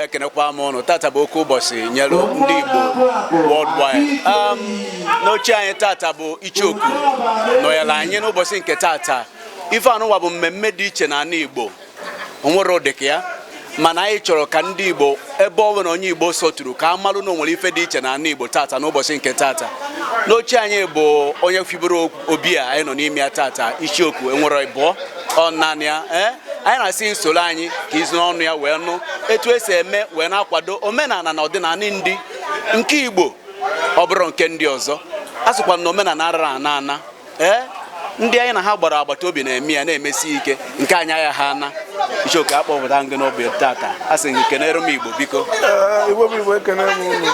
ekenekwa m ụnụ tata bụ oke ụbọsị nyere ndị Igbo worldwide um, n'oche anyị tata bụ Icheoku nọnyere anyị n'ụbọsị nke tata ife anụwa bụ mmemme dị iche n'ala Igbo o nwerọ ụdị ka ya mana anyị chọrọ ka ndị Igbo ebe ọ nwere onye Igbo sọturu ka a malụ na onwere ife dị iche n'ala Igbo tata n'ụbọsị nke tata n'oche anyị bụ onye fibere obi a anyị nọ n'ime ya tata Icheoku enwerọ ịbụọ ọ naanị ya ee eh? anyị na-asị soro anyị ka i si n'ọnụ ya wee nụ etu esi eme wee na-akwado omenala na ọdịnala ndị nke igbo ọ bụrụ nke ndị ọzọ a sịkwa na omenala arara ana ana ee eh? ndị anyị na ha gbara agbata obi na-eme ya na-emesi ike nke anyị agaha ana Icheoku akpọpụta gị n'obi tata a sị gị kenere m igbo biko igbo bụ igbo ekene m unu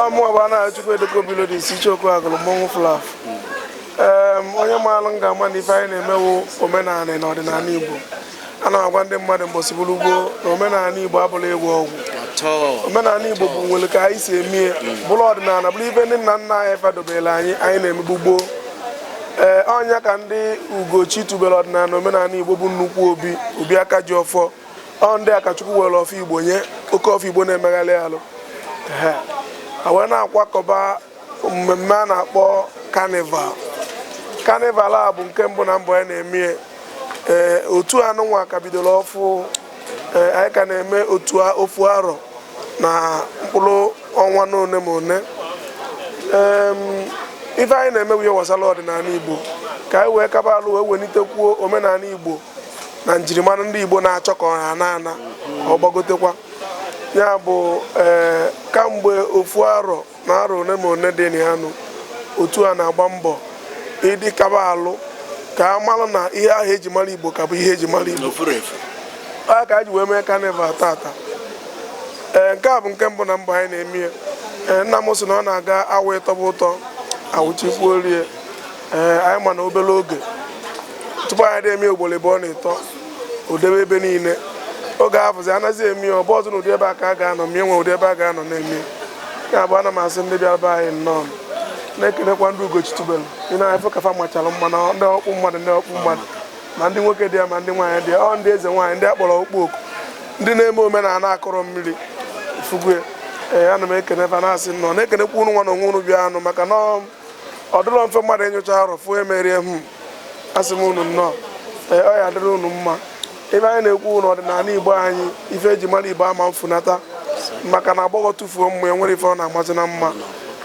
ọ mụwa bụ Anayochukwu edeko bilo dị isi Icheoku agụrụ mmọnwụ flaf onye maalụ m ga-ama na ife anyị na-eme wụ omenala na ọdịnala igbo ana m agwa ndị mmadụ mbọsị bụrụ ugbo na omenala Igbo abụrọ ịgwọ ọgwụ omenala Igbo bụ nwere ka anyị si eme ya mm. bụrụ ọdịnala bụrụ ife ndị nna nna anyị fa dobere anyị anyị na-emebu gboo ee eh, ọ ya ka ndị Ugochitubelu ọdịnala na omenala Igbo bụ nnukwu obi obi aka ji ọfọ ọ ndị akachukwu were ọfọ Igbo nye oke ọfọ Igbo na-emegharị alụ wee na-akwakọba mmemme a na-akpọ carnival carnival a bụ nke mbụ na mbụ anyị na-eme ee eh, otu anụnwa ka bidoro ọfụ ee eh, anyị ka na-eme ofu arọ na mkpụrụ ọnwa na one ma one ife anyị na-eme wụ ihe gbasara ọdịnala igbo ka anyị wee kaba alụ wee welitekwuo omenala igbo na njirimara ndị igbo na-achọ ka ọha na ana ọ gbagotekwa ya bụ ee eh, kamgbe ofu arọ na arọ one ma one dị na ya nụ otu a na-agba mbọ ịdị kaba alụ ka a mara na ihe ahụ eji mara igbo ka bụ ihe eji mara igbo a ka e ji wee mee carnival tata ee nke a bụ nke mbụ na mbụ anyị na-eme ya ee nna m sị na ọ na-aga awa ịtọba ụtọ awụchikwuo rie ee anyị ma na obere oge tupu anyị na-eme ugboro ịbụọ na ịtọ o debe ebe niile oge afụzi anaghị eme ya ọ bụrọzị na ụdị ebe a ka a ga-anọ ma enwe ụdị ebe a ga-anọ na-eme ya bụ ana m asị ndị bịara be anyị nnọọ na-ekelekwa ndị Ugochitubelu ị na-afụ ka fa machara mma na ndị ọkpụ mmadụ ndị ọkpụ mmadụ ma ndị nwoke dị ya ma ndị nwaanyị dị ya ọ ndị eze nwaanyị ndị akpọrọ okpu oku ndị na-eme omenala akọrọ mmiri fugwe ee ana m ekene fa na-asị nnọọ na-ekenekwa ụnụ nwa na onwe ụnụ bịa anụ maka na ọ dịrọ mfe mmadụ enyocha arụ fụ emerie hmm. asị m unu nnọọ ee ọ ya adịrị unu mma ife anyị na-ekwu bụnụ ọdịnala igbo anyị ife eji mara igbo ama efunata maka na agbọghọ tufuo mma o nwerọ ife ọ na-amazi na mma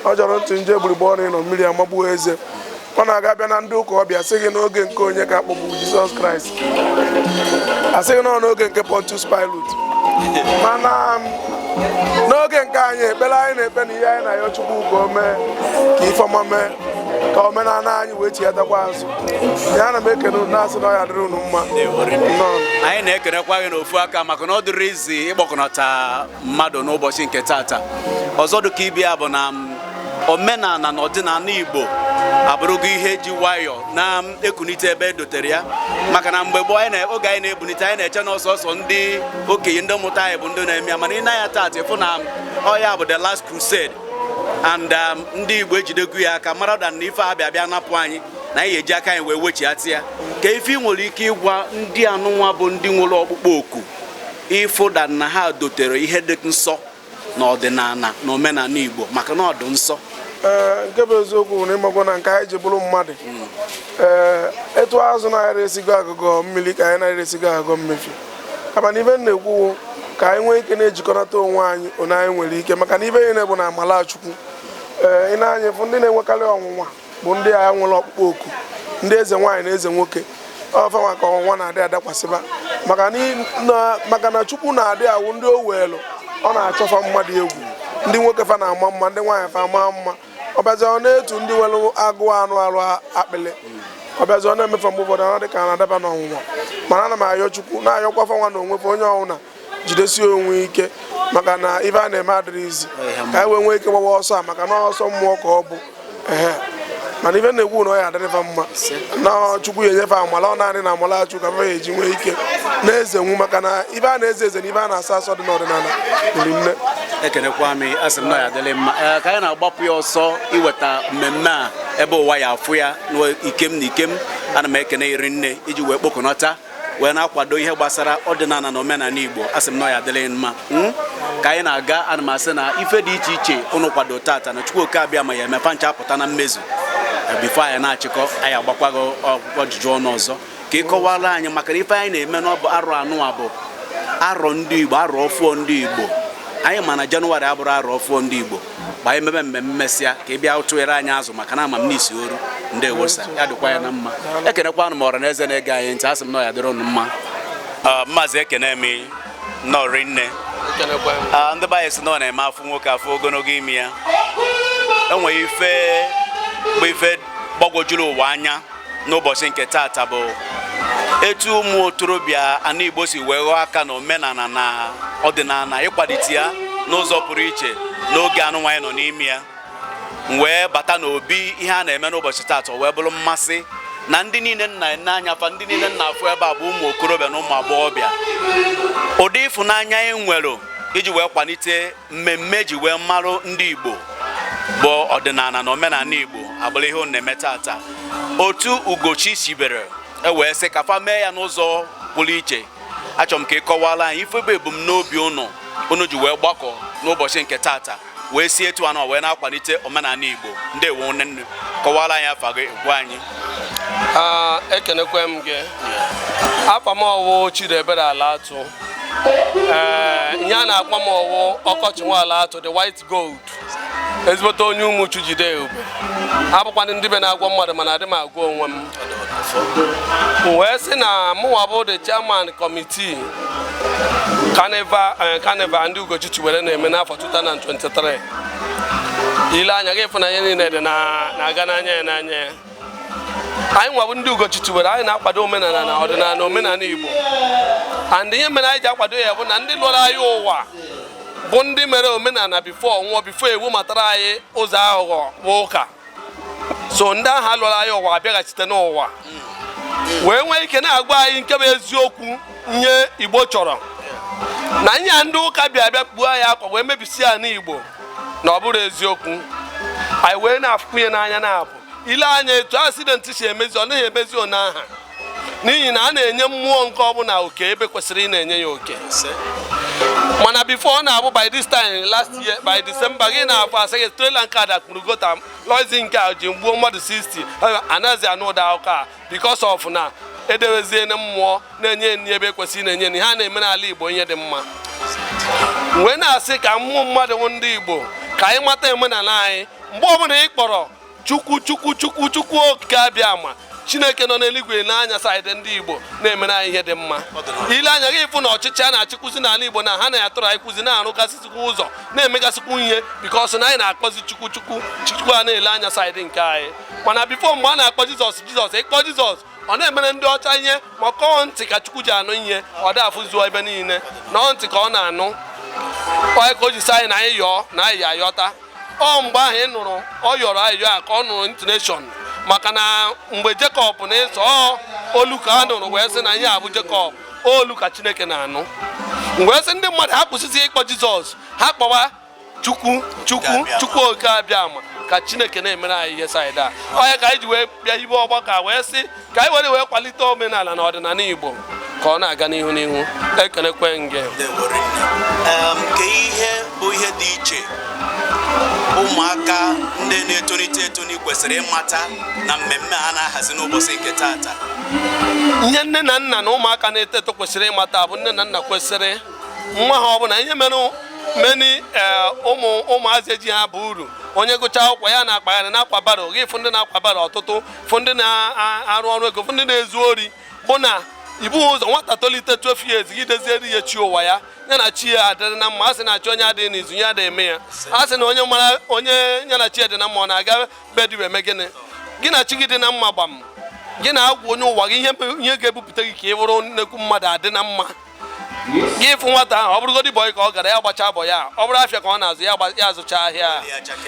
ọ jọrọ ntụ nje egbugbere ọnụ ịnọ mmiri amagbuo eze ọ na-aga bịa na ndị ụka ọ bịa sị gị n'oge nke onye ka akpọgbu Jizọs Kraịst asịghị na ọ n'oge nke Pontius Pilate mana um, n'oge nke anyị ekpere anyị na-ekpe na ihe anyị na-ayọ Chukwu ka o mee ka ifeọma mee ka omenala anyị wee chighatakwa azụ ya ana m ekene unu na-asị na ọ ya-adịrị unu mma anyị na-ekenekwa gị n'ofu aka maka na ọ dịrọ easy ịkpọkọnata mmadụ n'ụbọchị nke tata ọzọ dị ka ibe ya bụ na um, omenala na ọdịnala Igbo abụrụgo ihe ji nwayọọ na ekunite ebe e dotere ya maka na mgbe gboo anyị oge anyị na-ebunite anyị na-eche na ọ sọsọ ndị okenye ndị mụta anyị bụ ndị na-eme ya mana ị nee anya taata ị fụ na ọ ya bụ the last crusade and um, ndị Igbo ejidego ya aka mara dan na ife a bịa bịa napụ anyị na anyị ya-eji aka anyị wee wechighata ya kee ife ị nwere ike ịgwa ndị anụnwa bụ ndị nwere ọkpụkpọ oku ịfụ dan na ha dotere ihe dị nsọ na ọdịnala na omenala Igbo maka na ọ dị nsọ ee nke bụ eziokwu bụ na ị makwa na nke anyị ji bụrụ mmadụ ee etu azụ na-arọ esi gọ agụgọ mmiri ka anyị na-arọ esi gọ agụgọ mmefie kama na ife m na-ekwu bụ ka anyị nwee ike na-ejikọnata onwe anyị one anyị nwere ike maka na ife niine bụ na amala chukwu ee ị nee anya ị fụ ndị na-enwekarị ọnwụnwa bụ ndị ahụ nwere ọkpụkpọ oku ndị eze nwaanyị na eze nwoke ọ fa nwa ka ọnwụnwa na-adị adakwasịba maka na chukwu na-adị awụ ndị o welu ọ na-achọ fa mma dị egwu ndị nwoke fa na-ama mma ndị nwaanyị fa ama mma ọ bịazie na etu ndị nwere agụụ anụ arụ akpịlị ọ bịazie na-eme fa mgbe ụfọdụ anọ dị ka na-adaba n'ọnwụnwa mana ana m ayọ chukwu na-ayọkwa fa nwa na onwe fa onye ọwụna jidesie onwe ike maka na ife a na-eme adịrọ easy ka anyị wee nwee ike gbawa ọsọ a maka na ọsọ mmụọ ka ọ bụ mana ife na-ekwu na ọ ya-adịrị fa mma na chukwu ya-enye fa amala ọ naanị na amala chukwu ka fa ya-eji nwee ike na-ezenwu maka na ife a na-eze eze na ife a na-asọ asọ dị n'ọdịnala riri nne ekenekwa m asị m na ọ ya-adịrị mma ka anyị na-agbapụ ya ọsọ iweta mmemme a ebe ụwa ya-afụ ya n'ikem na ikem ana m ekene gị rinne i ji wee kpokọnata wee na-akwado ihe gbasara ọdịnala na omenala Igbo asị m na ọ ya-adịrị mma hmm? ka anyị na-aga ana m asị na ife dị iche iche ụnụ kwado tata na Chukwu oke Abịama ya-eme fa ncha apụta na mmezu eh, before anyị na-achịkọ anyị agbakwa gị ajụjụ ọnụ ọzọ ka ị kọwara anyị maka na ife anyị na-eme na ọ bụ arọ anụwa bụ arọ ndị Igbo arọ ọfụọ ndị Igbo anyị ma na Jenụwarị abụrọ arọ ọfụọ ndị Igbo ka anyị mebe mmemme mesịa ka ị bịa tụere anyị azụ maka na ama m n'isi oru ndị ewosa ya dịkwa ya na mma ekenekwanụ m ọra na eze na-ege anyị ntị asị m na ọ ya-adịrị ụnụ mma Ah, maazị ekene m ụnụ rinne Ah, ndị be anyị sị na ọ na-eme a fụ nwoke a fụ ogologo imi ya enweghị ife bụ ife gbagwojuru ụwa anya n'ụbọchị nke taata bụ etu ụmụ okorobịa ana Igbo si wee ghọọ aka na omenala na ọdịnala ịkwalite ya n'ụzọ pụrụ iche n'oge anụnwa anyị nọ n'ime ya m wee bata n'obi ihe a na-eme n'ụbọchị taata wee bụrụ mmasị na ndị niile m na-ene anya fa ndị niile m na-afụ ebe a bụ ụmụ okorobịa na ụmụ agbọghọbịa ụdị ịfụnanya anyị nwere iji wee kwalite mmemme e ji wee marụ ndị Igbo bụ ọdịnala na omenala Igbo abụrụ ihe unu na-eme taata otu Ugochi sibere wee sị ka fa mee ya n'ụzọ pụrụ iche achọrọ m ka ị kọwara anyị ife bụ ebumnobi unu unu ji wee gbakọ n'ụbọchị nke taata wee si etu a wee na-akwalite omenala Igbo ndewo nwanne kọwara anyị afa gị gwa anyị ekenekwe m gị afa m ọ wụ Chidiebere Alatu ee ihe a na-akpọ m ọ wụ Ọkọcha nwa Alatu the white gold ezigbote onye Ụmụchu jide ube abụkwanụ m dibịa na-agwọ mmadụ mana adị m agwọ onwe m wee sị na mụnwa bụ the chairman committee carnival eh, ndị Ugochi chiwere na-eme n'afọ 2023 ị lee anya ị ga ịfụ na ihe niile dị na-aga n'anya ya n'anya ya anyị nwa bụ ndị Ugochi tubere anyị na-akwado omenala na ọdịnala omenala Igbo and ihe mere anyị ji akwado ya bụ na ndị lọrọ anyị ụwa bụ ndị mere omenala before nwụọ before e webatara anyị ụzọ aghụghọ bụ ụka so ndị ahụ lọrọ anyị ụwa abịaghachite n'ụwa wee nwee ike na-agwa anyị nke bụ eziokwu ihe Igbo chọrọ na ihe ndị ụka bịa bịa kpuo anyị akwa wee mebisi ya n'Igbo na ọ bụrọ eziokwu anyị wee na-afụkwu ihe n'anya na-abụ ị lee anya etu accident si emezi ọ naghị emezi otu aha n'ihi na a na-enye mmụọ nke ọbụla oke ebe e kwesịrị ịna-enye ya oke mana before ọ na-abụ by this time last year by December ị ga na-afụ a sị gị trailer nke a dakpuru gutter luxury nke a jee gbuo mmadụ 60 anaghịzi anụ ụdị akụkọ a because of na edeweziena mmụọ na-enye nri ebe e kwesịrị na-enye nri ha na-emere ala Igbo ihe dị mma wee na-asị ka ụmụ mmadụ ndị Igbo ka anyị mata omenala anyị mgbe ọbụla ị kpọrọ chukwu chukwu chukwu chukwu okike abịama chineke nọ n'eluigwe elee anya side ndị Igbo na-emere anyị ihe dị mma ị lee anya ị ga ịfụ na ọchịchị a na-achịkwụzi n'ala Igbo na ha na-atụrụ anyị kwụzi na-arụgasịzikwa ụzọ na-emegasịkwu ihe because na anyị na-akpọzi chukwu chukwu chukwu a na-ele anya side nke anyị mana before mgbe a na-akpọ jizọs jizọs ịkpọ jizọs ọ na-emere ndị ọcha ihe maka ọ ntị ka chukwu ji anụ ihe ọ da afụzu ebe niile na ọ ntị ka ọ na-anụ ọ ya ka o ji sị anyị na anyị yọọ na anyị ya-ayọta ọ mgbe ahụ ị nụrụ ọ yọrọ ayịyọ a ka ọ nụrụ intonation maka na mgbe Jekọb na Ịsọ olu ka a nụrụ wee sị na ihe a bụ Jekọb olu ka chineke na-anụ wee sị ndị mmadụ ha kwụsịzi ịkpọ jizọs ha kpọwa chukwu chukwu chukwu oke abịama ka chineke na-emere anyị ihe side a ọ ya ka anyị ji wee bịa hibe ọgbakọ wee sị ka anyị were wee kwalite omenala na ọdịnala igbo ka ọ na-aga n'ihu n'ihu ekenekwe m gị kee ihe bụ ihe dị iche ụmụaka ndị na-etonite etoni kwesịrị ịmata na mmemme a na-ahazi n'ụbọchị nke taata ihe nne na nna na ụmụaka na-eto eto kwesịrị ịmata bụ nne na nna kwesịrị nwa ha ọbụla ihe mere many eh, ụmụ ụmụazị ejiha aba uru onye gụcha akwụkwọ ya na-akpagharị na-akwa barrow gị fụ ndị na-akwa barrow ọtụtụ fụ ndị na-arụ ọrụ ego fụ ndị na-ezu ori bụ na ibu ụzọ nwata tolite 12 years gị doziere ya chi ụwa ya ya na chi ya adịrị na mma a sị na chi onye adịghị n'izu ya adịghị eme ya a sị na onye mara onye ya na chi dị na mma ọ na-aga be dibịa eme gịnị gị na chi gị dị na mma gbam gị na-agwa onye ụwa gị ihe ga-ebupụta gị ka ị bụrụ nnekwu mmadụ adị na mma gị fụ nwata ahụ ọ bụrụgodị boy ka ọ gara ya gbachaa boy ya ọ bụrụ afịa ka ọ na-azụ ya azụcha ahịa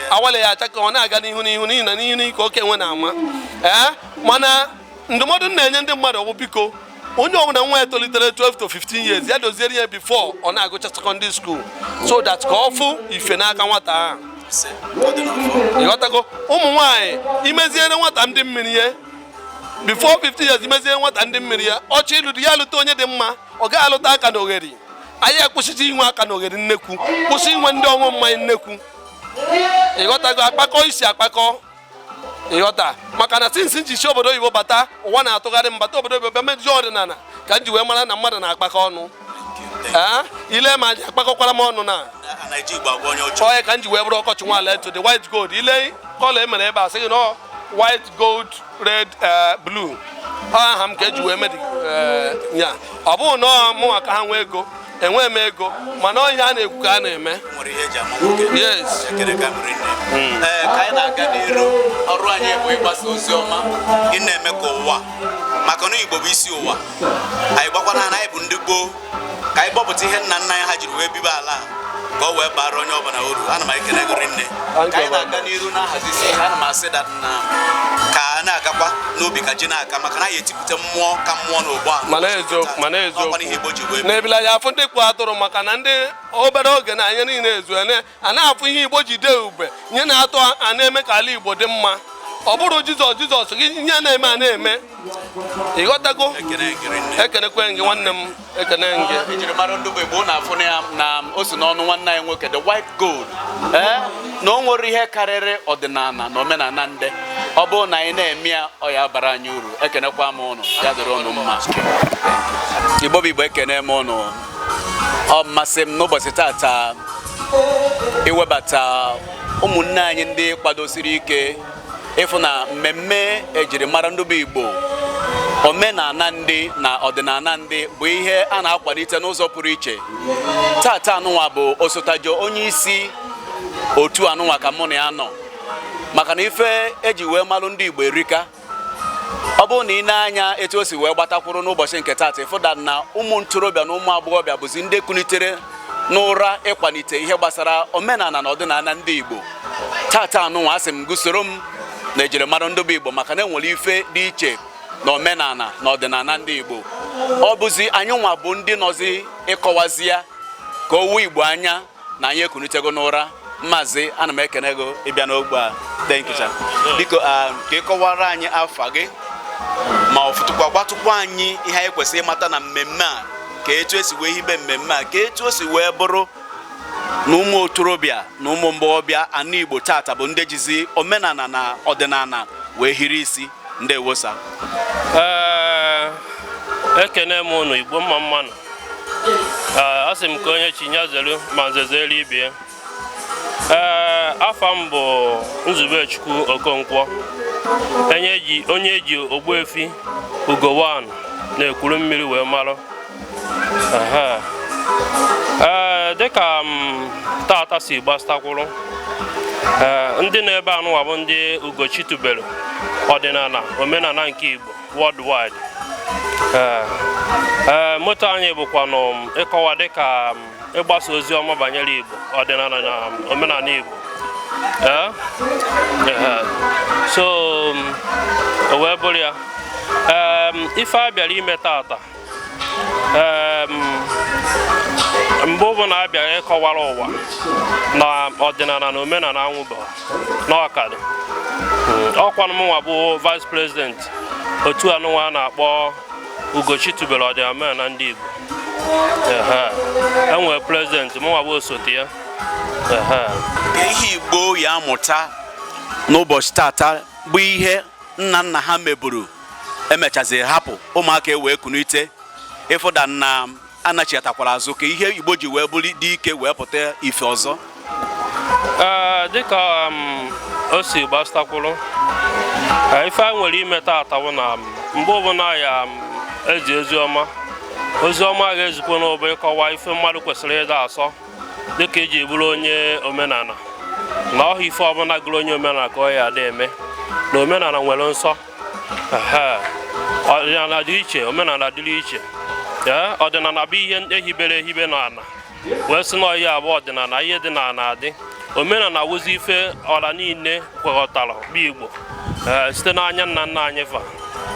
awale ya acha ka ọ na-aga n'ihu n'ihu n'ihi na n'ihu n'ihu ka oke enwe na-ama ee mana ndụmọdụ m na-enye ndị mmadụ bụ biko onye ọbụla nwa ya tolitere 12 to 15 years ya doziere ya before ọ na-agụcha secondary school so that ka ọ fụ ife n'aka nwata ahụ ịghọtago ụmụ nwaanyị imeziere nwata ndị mmiri ya before 15 years imezie nwata ndị mmiri ya ọ chọọ ịlụ di ya alụta onye dị mma ọ gaghị alụta akalogheri anyị akwụsịcha inwe akalogheri nnekwu kwụsị inwe ndị ọṅụ mmanya nnekwu ịghọtago akpakọ isi akpakọ ịghọta maka na since m ji si obodo oyibo bata ụwa na-atụgharị m bata obodo oyibo bịa mejuo ọdịnala ka m ji wee mara na mmadụ na-akpakọ ọnụ ile ma aja akpakọkwara m ọnụ na ọ ya ka m ji wee bụrụ ọkọchị nwaala to the white gold ị lee colour e mere ebe a sị gị na white gold red eh, blue aha m ka eji wee medi eh, ya ọ bụghị na mụnwa ka ha nwee ego enweghị m ego mana ọ ihe a na-ekwu ka a na-eme yes hmm. eh, ka anyị na-aga n'iru ọrụ anyị bụ ịgbasa ozi ọma ị na-eme ka ụwa mata na Igbo bụ isi ụwa anyị gbakwana na anyị bụ ndị gboo ka anyị kpọpụta ihe nna nna anyị ha jiri wee bibe ala ka ọ wee bara onye ọbụla uru ana m ekele gị rinne ka anyị na-aga n'iru na-ahazizi ihe ana m asị that na ka a na-agakwa n'ubi ka ji na-aka maka na anyị etipụta mmụọ ka mmụọ n'ọgbọ mana eziokwu n'ebile anya afụ ndị kpụ atụrụ maka na ndị obere oge na anya niile ezu a na-afụ ihe igbo ji dee ube nye na-atọ a na-eme ka ala igbo dị mma ọ bụrụ jizọs jizọs gị ihe na-eme a na-eme ịghọtago ekenekwe m gị nwanne m ekene m gị ejiri mara ndị bụ igbo na-afụ na ya na o si n'ọnụ nwanne anyị nwoke the white gold eh? na o nwere ihe karịrị ọdịnala na omenala ndị ọ bụrụ na anyị na-eme ya ọ ya bara anyị uru ekenekwa m ụnụ ya dịrị ụnụ mma igbo bụ igbo ekene m ụnụ ọ masị m n'ụbọchị tata iwebata ụmụnne anyị ndị kwadosiri ike ịfụ na mmemme ejirimara ndị bụ Igbo omenala ndị na ọdịnala ndị bụ ihe a na-akwalite n'ụzọ pụrụ iche tata anụnwa bụ osotajo onye isi otu anụnwa ka mụ na ya nọ maka na ife eji wee malụ ndị Igbo erika ọ bụrụ na i nee anya etu o si wee gbatakwuru n'ụbọchị nke taata ịfụda na ụmụ ntorobịa na ụmụ agbọghọbịa bụzi ndị kunitere n'ụra ịkwalite ihe gbasara omenala na ọdịnala ndị Igbo tata anụnwa asị m gụ soro m na ejirimara ndị bụ Igbo maka na enwere ife dị iche na omenala na ọdịnala ndị Igbo ọ bụzi anyị nwa bụ ndị nọzi ịkọwazi ya ka o wo Igbo anya na anyị ekunitego n'ụra maazị ana m ekene gị ịbịa n'ogbe a thank you sir biko ah, ka ị kọwara anyị afa gị ma ọ fụtụkwa gwatụkwa anyị ihe anyị kwesịrị ịmata na mmemme a ka etu esi wee hibe mmemme a ka etu o si wee bụrụ na ụmụ ntorobịa na ụmụ agbọghọbịa ana Igbo tata bụ ndị jizi omenala na ọdịnala wee hiri isi ndeewo sir eh, ekene m ụnụ Igbo mma mmanụ a sị m ka onye chi ya zelu ma nze zelu ibie ee afa m bụ Nzubechukwu Okonkwo onye eji Ogbuefi Ugo One na Ekwulumili wee marụ ee dịka um tata si gbasatakwuru ee ndị nọ ebe anụwa bụ ndị Ugochi tubelu ọdịnala omenala nke Igbo worldwide eh, eh, motto anyị bụkwanụ um, ịkọwa dịka um, ịgbasa ozi ọma banyere Igbo ọdịnala na um, omenala Igbo eh, so o wee bụrụ ya ife a bịara ime tata mgbe ọ bụ na a bịara ịkọwara ụwa na ọdịnala na omenala anwụba na ọ ka dụ ọkwanụ mụnwa bụ vice president otu anụnwa a na-akpọ ugochi tubelu ọdịnala omenala ndị igbo enwere president mụnwa bụ osote ya ihe igbo ya amụta n'ụbọchị tata bụ ihe nna nna ha meburu emechaziri hapụ ụmụaka wee kunite ịfụda na anachiatakwara azụ ka ihe igbo ji wee bụrụ dị ike wee pụta ife ọzọ dịka um, o si gbasatakwuru ife a nwere ime taata bụ na um, mgbe ọbụla ya um, ezi ozi ọma ozi ọma ga-ezikwanụ bụ ịkọwa ife mmadụ kwesịrị ịda asọ dịka iji bụrụ onye omenala na ọha ife ọbụla gụrụ onye omenala ka ọ ya ada eme na omenala nwere nsọ ọdịnala dị iche omenala dịrị iche ọdịnala bụ ihe ehibere ehibe n'ala wee sị na ọ ya bụ ọdịnala ihe dị n'ala adị omenala wụzi ife ọra niile kwekọtara bụ igbo site n'anya nna nna anyị fa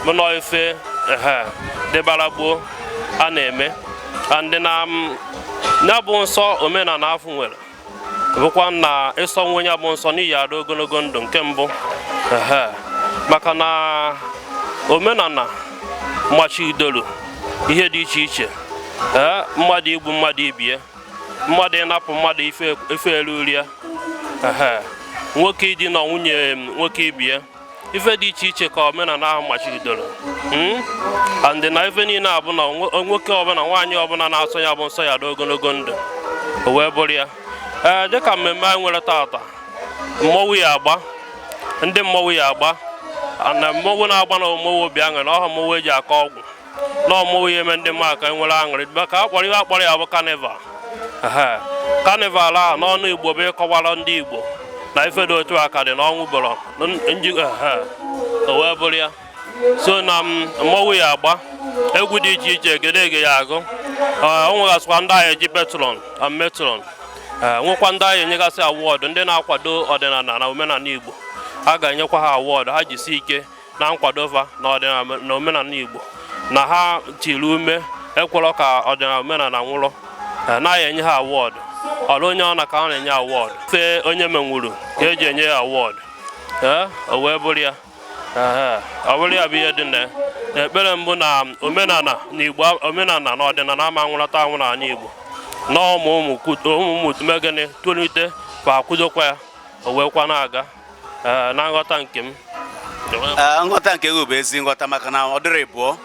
mana ife dịbara gboo a na-eme and na ya bụ nsọ omenala afụ nwere bụkwa na ị sọnwuo ya bụ nsọ na ị ya adị ogologo ndụ nke mbụ maka na omenala machidoro ihe dị iche iche ee mmadụ igbu mmadụ ibie mmadụ ịnapụ mmadụ ife ruru ya nwoke idina nwunye nwoke ibie ife dị iche iche ka omenala ahụ machibidoro hmm? and na ife niile a bụ na nwoke ọbụla nwaanyị ọbụla na-asọ ya bụ nsọ ya adị ogologo ndụ o wee bụrụ ya ee dịka mmemme anyị nwere taata mmọnwụ ya agba ndị mmọnwụ ya agba na mmọnwụ na-agba na ọ mmọnwụ obi aṅụrị na ọha mmọnwụ eji akọ ọgwụ na ọ mmọnwụ ya eme ndị mmadụ ka nwere aṅụrị maka akpọrọ ihe akpọrọ ya bụ carnival carnival a n'ọnụ igbo bụ ịkọwara ndị igbo na ife dị otu a ka dị na ọ nwụbụrọ o wee bụrụ ya so na mmọnwụ ya agba egwu dị iche iche egedege ya agụ ọ nwegasịkwa ndị a ya echi patron na matron nwekwa ndị a ya enyegasị award ndị na-akwado ọdịnala na omenala igbo a ga-enyekwa ha award ha jisi ike na nkwado fa na ọdịnala na omenala Igbo na ha tiri ume ekwerọ ka ọdịnala omenala nwụrụ e, na a ya enye ha award ọrọ onye ọna ka a na-enye award fe onye menwuru ka eji enye ya award e, o wee bụrụ ya ọ bụrụ ya bụ ihe dị na ekpere m bụ na omenala na igbo omenala na ọdịnala ama nwụlata anwụ n'ala igbo na ụmụ ụmụ ụmụ ụmụ tumegene tolitekwa akwụdokwa ya o wee kwa na-aga Eh, na nghọta nke m eh, nghọta nke gị bụ ezi nghọta maka na ọ dịrị bụọ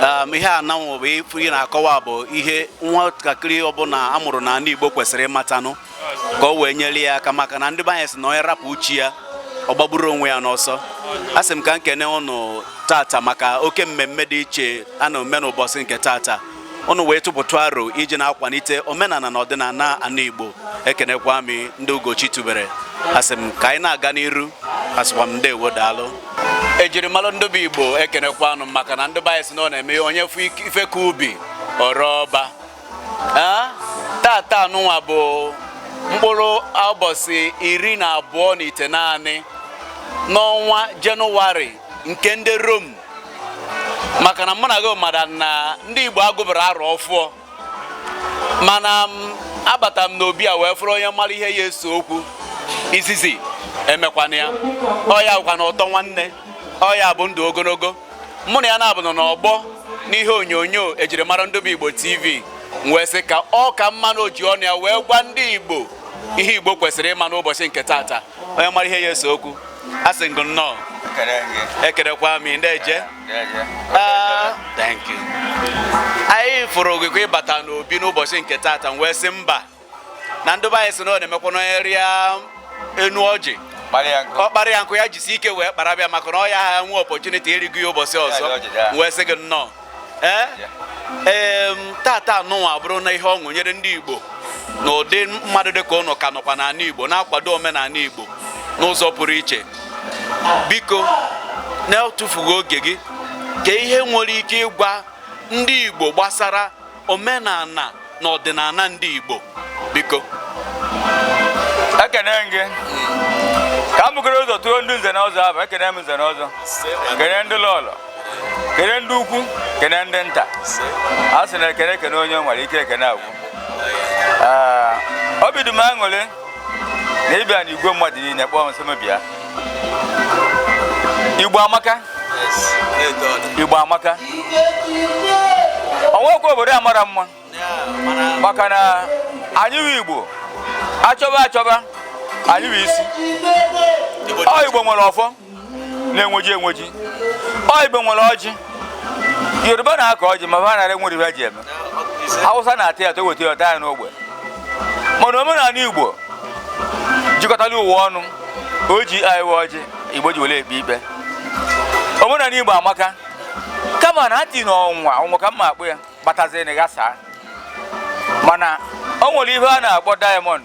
ehm, ihe anụnwa bụ ife ị na-akọwa bụ ihe nwatakịrị ọbụla a mụrụ n'ana Igbo kwesịrị ịmatanụ ka o wee nyere ya aka maka na ndị be anyị sị na onye rapụ chi ya ọ gbagburu onwe ya n'ọsọ a sị m ka m kene ụnụ tata maka oke mmemme dị iche a na-eme n'ụbọchị nke tata ụnụ wee tụpụta aro iji na-akwalite omenala na ọdịnala ana Igbo ekenekwa m ndị Ugochi tubere asị m ka anyị na-aga n'iru asịkwa m ndewo daalụ ejirimara ndị bụ Igbo ekenekwa anụ maka na ndị be anyị sị na ọ na-eme onye fụ ife ka ubi o ree ọba tata anụnwa bụ mkpụrụ ụbọchị iri na abụọ na itenaanị n'ọnwa Jenụwarị nke ndị Rom maka na mụ na gị mara na ndị Igbo agụberọ arọ ọfụọ mana m abata m n'obi a wee fụrụ onye mara ihe ya ese okwu izizi emekwana ya ọ ya bụkwa na ụtọ nwanne ọ ya bụ ndụ ogologo mụ na ya naabọ nọ n'ọgbọ n'ihe onyonyo e jiri mara ndobe Igbo TV m wee sị ka ọ ka mma na o ji ọnụ ya wee gwa ndị Igbo ihe Igbo kwesịrị ịma n'ụbọchị nke taata onye mara ihe ya ese okwu asị m gị nnọọ ekerekwa m ndị eje ah, anyị fụrụ gị ka ị bata n'obi n'ụbọchị nke taata m wee sị mba na ndị be anyị sị na ọ na-emekwa na onye rịa enu ọjị ọ kpara ya nkụ ya jisi ike wee kparaba ya maka na ọ yaha enwe opportunity ịrịgo ya ụbọchị ọzọ wee sị gị nnọọ ee eh? taata nụnwa abụrụ na ihe ọṅụ nyere ndị Igbo na ụdị mmadụ dị ka ụnụ ka nọkwa n'anị Igbo na-akwado omenanị Igbo n'ụzọ pụrụ iche biko na-etufughị oge gị kee ihe i nwere ike ịgwa ndị Igbo gbasara omenala na ọdịnala ndị Igbo biko ekene m gị ka m bugoro ụzọ tụọ ndị nze na ọzọ abụ ekene m nze na ọzọ kene ndị lọlọ kene ndị ukwu kene ndị nta a sị na ekene ekene onye nwere ike ekene agwụ obi dị m aṅụrị na ị bịa na igwe mmadụ niile kpọọ m sị m bịa igbo amaka igbo amaka o nwekwa obodo a mara mma maka na anyị bụ igbo achọba achọba anyị bụ isi ọ igbo nwere ọfọ na-enweji enweji ọ igbo nwere ọjị yoruba na-akọ ọjị ma ha nara enwere ihe ji eme hausa na-ata ya toweta ya taa ya n'ogbe mana omenanị igbo jikọtala ụwa ọnụ ọjị anyị wụ ọjị igbo ji were ekpe ikpe omenanị igbo amaka kama na ati na ọnwa ọnwa ka mma akpụ ya batazie na gasaa mana o nwere ihe a na-akpọ diamond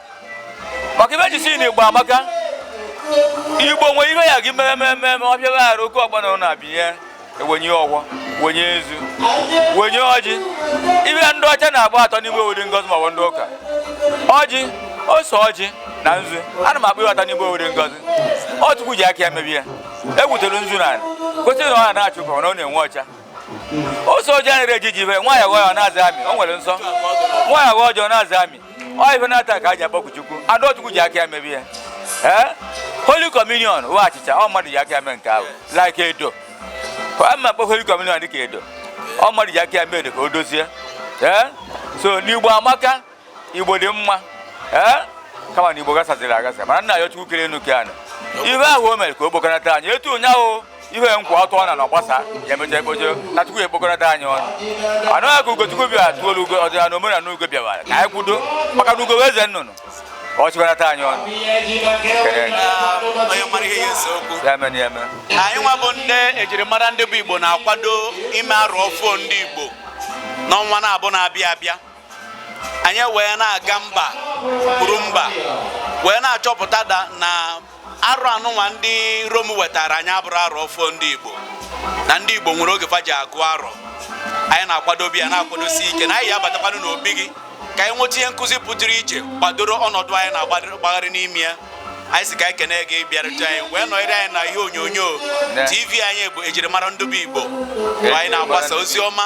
maka ife e ji sị na igbo amaka igbo nwe ihe ya gị mere mere mere ọ bịara arụ oke ọgbọ na abịnye ewenye ọgwọ wenye nzu wenye ọjị ife ndị ọcha na-akpọ atọ n'ime o nwere ngọzi ma ọ bụ ndị ụka ọjị ose ọjị na nzu ana m akpọ ife atọ n'igbo nwere ngọzi ọ Chukwu ji aka ya mebe ya e gwutere nzu na kwesịrị na ọ na na-achụ ka ọ na-enwe ọcha ose ọjị anaghị eji ji ibe nwaanyị aghọ ya ọ na-aza amị o nwere nsọ nwaanyị aghọ ọjị ọ na-aza amị ọ ife naatọ ka e ji akpọku Chukwu na ọ Chukwu ji aka ya mebe ya ee Holy Communion wụ achịcha ọ mmadụ ji aka ya mee nke ahụ like edo a ma akpọ Holy Communion dịka edo ọ mmadụ ji aka ya mee edo ka o dozie ee so na Igbo amaka Igbo dị mma ee kama na Igbo gasaziri agasa mana nna anyị Chukwu kere enu kee anị ife ahụ o mere ka o kpokọnata anyị etu ụnyaahụ ihe nkwa ọtụ ọ na na ọgbasa ya emecha ekpojo na chukwu ekpokọnata anyị ọnụ anụ aka ugochukwu bịa tụolu ugo ọdịnala omenala ugo bịawara ka anyị kwudo maka na ugo wụ eze nnụnụ ka ọ chịkọnata anyị ọnụ anyị nwa bụ ndị ejirimara ndị bụ igbo na-akwado ime arọ ọfụụ ndị igbo n'ọnwa naabọ na-abịa abịa anyị wee na-aga mba kwuru mba wee na-achọpụta da na arọ anụnwa ndị rom wetara anyị abụrọ arọ ọfụụ ndị igbo na ndị igbo nwere oge fa ji agụ arọ anyị na-akwadobe ya na-akwadosi ike na anyị ya abatakwanụ n'obi gị ka anyị nweta ihe nkụzi pụtụrụ iche gbadoro ọnọdụ anyị na-agbagharị n'ime ya anyị si ka anyị kene gị bịarute anyị wee nọnyere anyị na ihe onyonyo tv anyị bụ ejirimara ndị bụ igbo anyị na-agbasa ozi ọma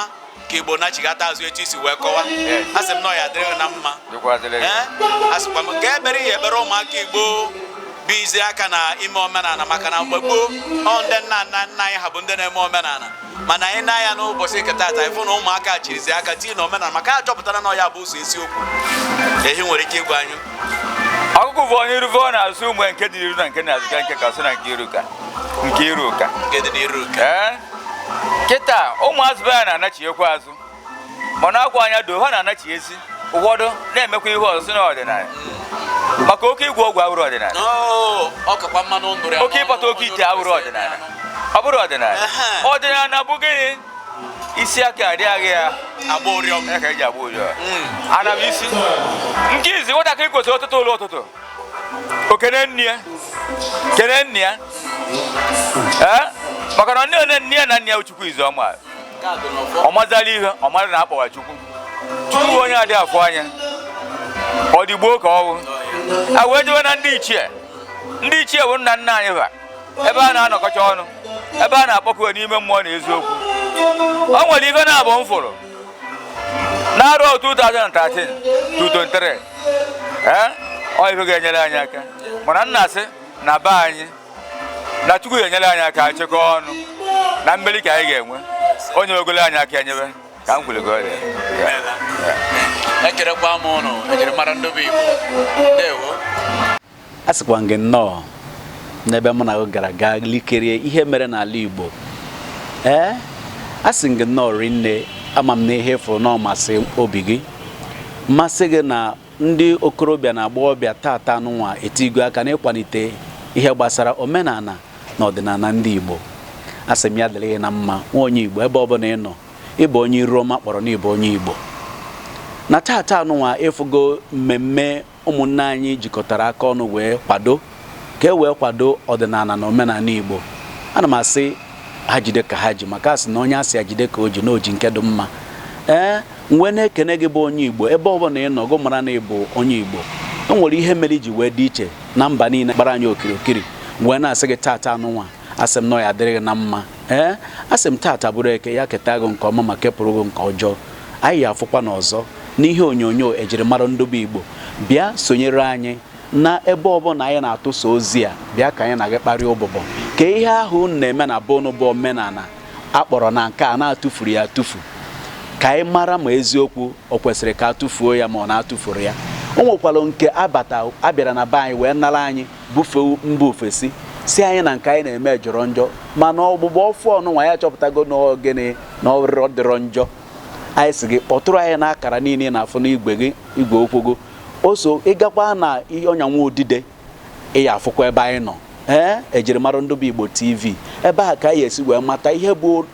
ka igbo nachigata azụ etu e si wee kọwaa sị m na ya dịrị gị na mma asịkwa m ka ebere ihe ekpere ụmụaka igbo bụ izi aka na ime omenala maka na mgbe gboo ọ ndị nna nna nna anyị ha bụ ndị na-eme omenala mana anyị na-anya n'ụbọchị nke taata ịfụ na ụmụaka chirizi aka tii na omenala maka a chọpụtara na ọ ya bụ ụzọ eziokwu ehi nwere ike ịgwa anyị ọkụkụ bụ onye iruve ọ na-azụ ụmụ nke dị n'iru na nke n'azụ ka nke ka sị na nke iru ka nke iru ka nke dị n'iru ka kịta ụmụazụ be ya na-anachighekwa azụ mana akwa anya doo ha na-anachi ezi ụfọdụ na-emekwa ihe ọzọ si na ọdịnala maka oke ịgwọ ọgwụ awụrọ ọdịnala Oh, ọ kakwa mma na ndụrụ ya oke ịkpata oke ite awụrọ ọdịnala ọ bụrọ ọdịnala Ehe. ọdịnala bụ gịnị isi aka adịghị ya agba ụrịọm ya ka eji agba ụrịọm ana m asị nke izizi nwatakịrị kwesịrị ọ teta ụla ụtụtụ o kene nne ya kene nna ya ee maka na nne onye nne ya na nna ya chukwu izizi ọ ma ọ mazịla ihe ọ mara na a kpọwa chukwu chukwu bụ onye adị afụ anya ọ dị gboo ka ọ wụ a wee jewe na ndị ichie ndị ichie bụ nna nna anyị ha ebe a na-anọkọcha ọnụ ebe a na-akpọku n'ime mmụọ na eziokwu o nwere ife naabọ m fụrụ n'arọ 2013 to 23 ee ọ ife ga-enyere anyị aka mana m na-asị na be anyị na chukwu ga-enyere anyị aka anyị chekọọ ọnụ na mmeri ka anyị ga-enwe onye ogolo anyị aka enyebe ka m kwuru gị ọrịa ekerekwa m ụnụ ejirimara ndị bụ igbo ndewo a sịkwa gị nnọọ n'ebe mụ na gị gara gaa lekirie ihe mere n'ala Igbo ee a sị gị nnọọ rinne ama m na ihe ị fụrụ na ọ masị obi gị masị gị na ndị okorobịa na agbọghọbịa tata anụnwa etigo aka n'ịkwalite ihe gbasara omenala na ọdịnala ndị Igbo a sị m ya dịrị gị na mma nwa onye Igbo ebe ọbụla ị nọ ị bụ onye iru ọma kpọrọ na ị bụ onye Igbo na tata anụnwa ị fụgo mmemme ụmụnne anyị jikọtara aka ọnụ wee kwado ka e wee kwado ọdịnala na omenala Igbo ana m asị ha jide ka ha ji maka a sị na onye a sị ya jide ka o ji na o ji nke dị mma ee m wee na-ekene gị bụ onye Igbo ebe ọ bụla ị nọ gụ mara na ị bụ onye Igbo e nwere ihe mere i ji wee dị iche na mba niile gbara anyị okirikiri wee na-asị gị taata anụnwa asị m na ọ ya-adịrị gị na mma ee asị m taata bụrụ eke ya keta gị nke ọma ma kepụrụ gị nke ọjọọ anyị ya-afụkwa n'ọzọ n'ihe onyonyo ejirimara ndụ be igbo bịa sonyere anyị na ebe ọbụla anyị na-atụsa ozi a bịa ka anyị na gị kparịa ụbụbọ ka ihe ahụ unu na-eme na be unu bụ omenala a kpọrọ na nke a na a tụfuru ya atụfu ka anyị mara ma eziokwu o kwesịrị ka a tụfuo ya ma ọ na a tụfuru ya o nwekwara nke abata a bịara na be anyị wee nara anyị bufee mba ofesi sị anyị na nke anyị na-eme jọrọ njọ mana ọgbụgba ọfụụ ọnụnwa ya chọpụtago na ọ gịnị na ọ dịrọ dịrọ njọ anyị sị gị kpọtụrụ anyị n'akara niile ị na-afụ n'igwe gị igwe okwu gị o so ị gakwa na ọnya nwa udide ị ya-afụkwa ebe anyị nọ ee ejirimara ndụ be igbo tv ebe a ka ị ya-esi wee mata ihe bụ